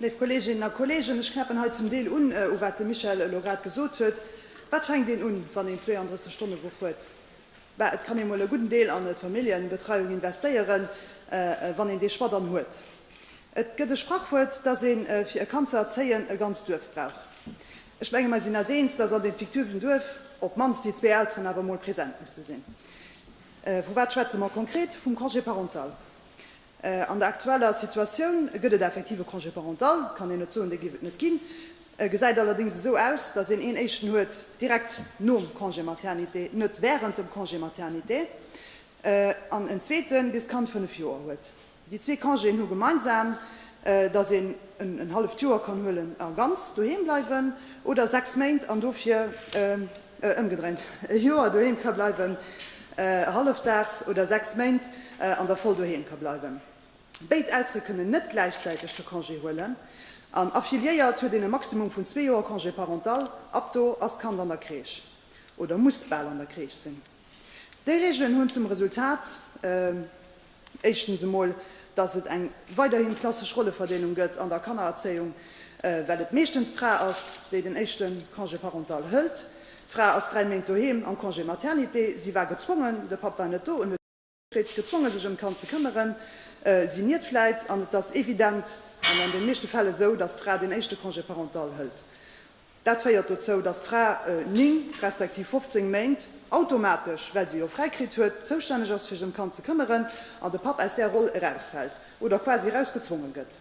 Léif Kolleeginnen a Kolleegen, ech knäppen hei zum Deel un, u wat de Michel elo grad gesot huet. Wat fänkt een un, wann een 32 Stonne Woch huet? Bah, et kann ee mol e gudden Deel an d'Familljenbetreiung investéieren, wann een dee Choix dann huet. Et gëtt e Sprachwuert, dass een, fir e Kand ze erzéien, e ganzt Duerf brauch. Ech menge mer sinn eis eens, dass an deem fiktiven Duerf op d'mannst déi zwee Elteren awer mol present misste sinn. Vu wat schwätze mer konkret? Vum Congé parental. An der aktueller Situatioun gëtt et effektiv e Congé parental, kann een net soen, dee géif et net ginn. E gesäit allerdéngs esou aus, datt een een éischten huet direkt nom Congé maternité, net während dem Congé maternité, an en zweete bis d'Kand fënnef Joer huet. Déi zwee Congéen hu gemeinsam, datt een en halleft Joer kann huelen a ganz doheem bleiwen, oder sechs Méint an dofir. Ëmgedréint, e Joer doheem ka bleiwen, hallefdaags, oder sechs Méint an der Voll doheem ka bleiwen. Béid Eltere kënnen net gläichzäiteg de Congé huelen. An affiliéiert huet een e Maximum vun zwee Joer Congé parental, ab do ass d'Kand an der Crèche oder muss bal an der Crèche sinn. Déi Reegelen hunn zum Resultat, éischtens emol, dass et eng weiderhin klassesch Rolleverdeelung gëtt an der Kannererzéiung, well et meeschtens d'Fra ass, déi den éischte Congé parental hëlt. D'Fra ass dräi Méint doheem am Congé maternité, si war gezwongen, de Papp war net do. Freet sech gezwonge sech ëm d'Kand ze këmmeren, si niert vläit, an et ass evident an an de meeschte Fäll esou, datt d'Fra deen éischte Congé parental hëlt. Dat féiert dozou, datt d'Fra 9 respektiv 15 Méint automatesch, well se jo fräi kritt huet, zoustänneg ass fir sech ëm d'Kand ze këmmeren, an de Papp aus där Roll erausfält oder quasi eraus gezwonge gëtt.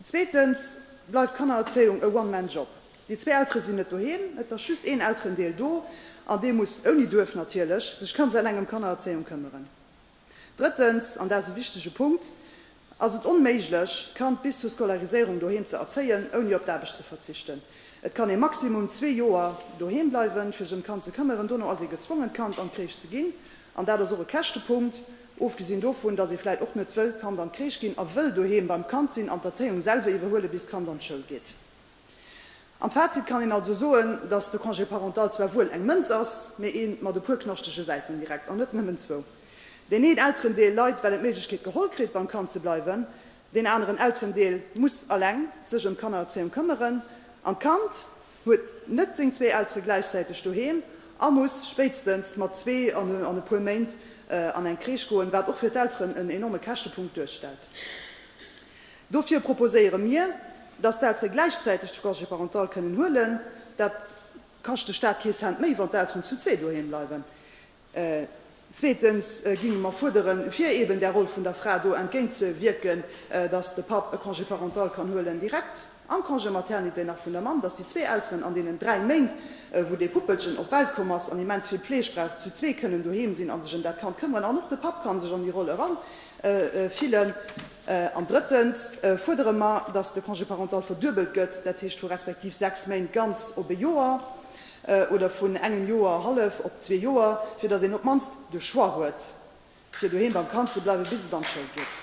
Zweetens bleift Kannererzéiung e One Man Job. Déi zwee Eltere sinn net doheem, et ass just een Elterendeel do an dee muss, ouni Duerf natierlech, sech ganz eleng ëm Kannererzéiung këmmeren. Drëttens, an dat ass e wichtege Punkt, ass et onméiglech d'Kand bis zur Scolariséierung doheem ze erzéien, ouni op d'Aarbecht ze verzichten. Et kann ee maximum zwee Joer doheem bleiwen, fir sech ëm d'Kand ze këmmeren, dono ass ee gezwongen d'Kand an d'Kréich ze ginn. An dat ass och e Käschtepunkt, ofgesinn dovun, datt ee vläit och net wëll d'Kand an d'Kreesch ginn a wëll doheem beim Kand sinn an d'Erzéiung selwer iwwerhuelen, bis d'Kand an d'Schoul geet. Am Fazit kann een also soen, datt de Congé parental zwar wuel eng Mënz ass, mee ee mat e puer knaschtege Säiten direkt, an net nëmmen zwou. Deen een Elterendeel leit, well en d'Méiglechkeet geholl kritt, beim Kand ze bleiwen, deen aneren Elterendeel muss eleng sech ëm d'Kannererzéiung këmmeren an d'Kand, huet net seng zwee Eltere gläichzäiteg doheem a muss spéitstens mat zwee an e puer Méint an eng Crèche goen, wat och fir d'Elteren en enorme Käschtepunkt duerstellt. Dofir proposéiere mir, dass d'Eltere gläichzäiteg de Congé parental kënnen huelen. Dat kascht de Staat kee Cent méi, wann d'Elteren zu zwee doheem bleiwen. Zweetens géinge mer fuerderen, fir eben där Roll vun der Fra do entgéint ze wierken, dass de Papp e Congé parental kann huelen direkt am Congé maternité nach vun der Mamm, dass déi zwee Elteren an deenen dräi Méint, wou dee Puppelchen op d'Welt komm ass an immens vill Pfleg brauch, zu zwee kënnen doheem sinn a sech ëm dat Kand këmmeren an och de Papp ka sech an déi Roll erafillen. An drëttens fuerdere mer, dass de Congé parental verduebelt gëtt, dat heescht vu respektiv sechs Méint ganz op e Joer. oder vun engem Joer hallef op zwee Joer, fir datt een op d'mannst de Choix huet, fir doheem beim Kand ze bleiwen, bis et an d'Schoul geet.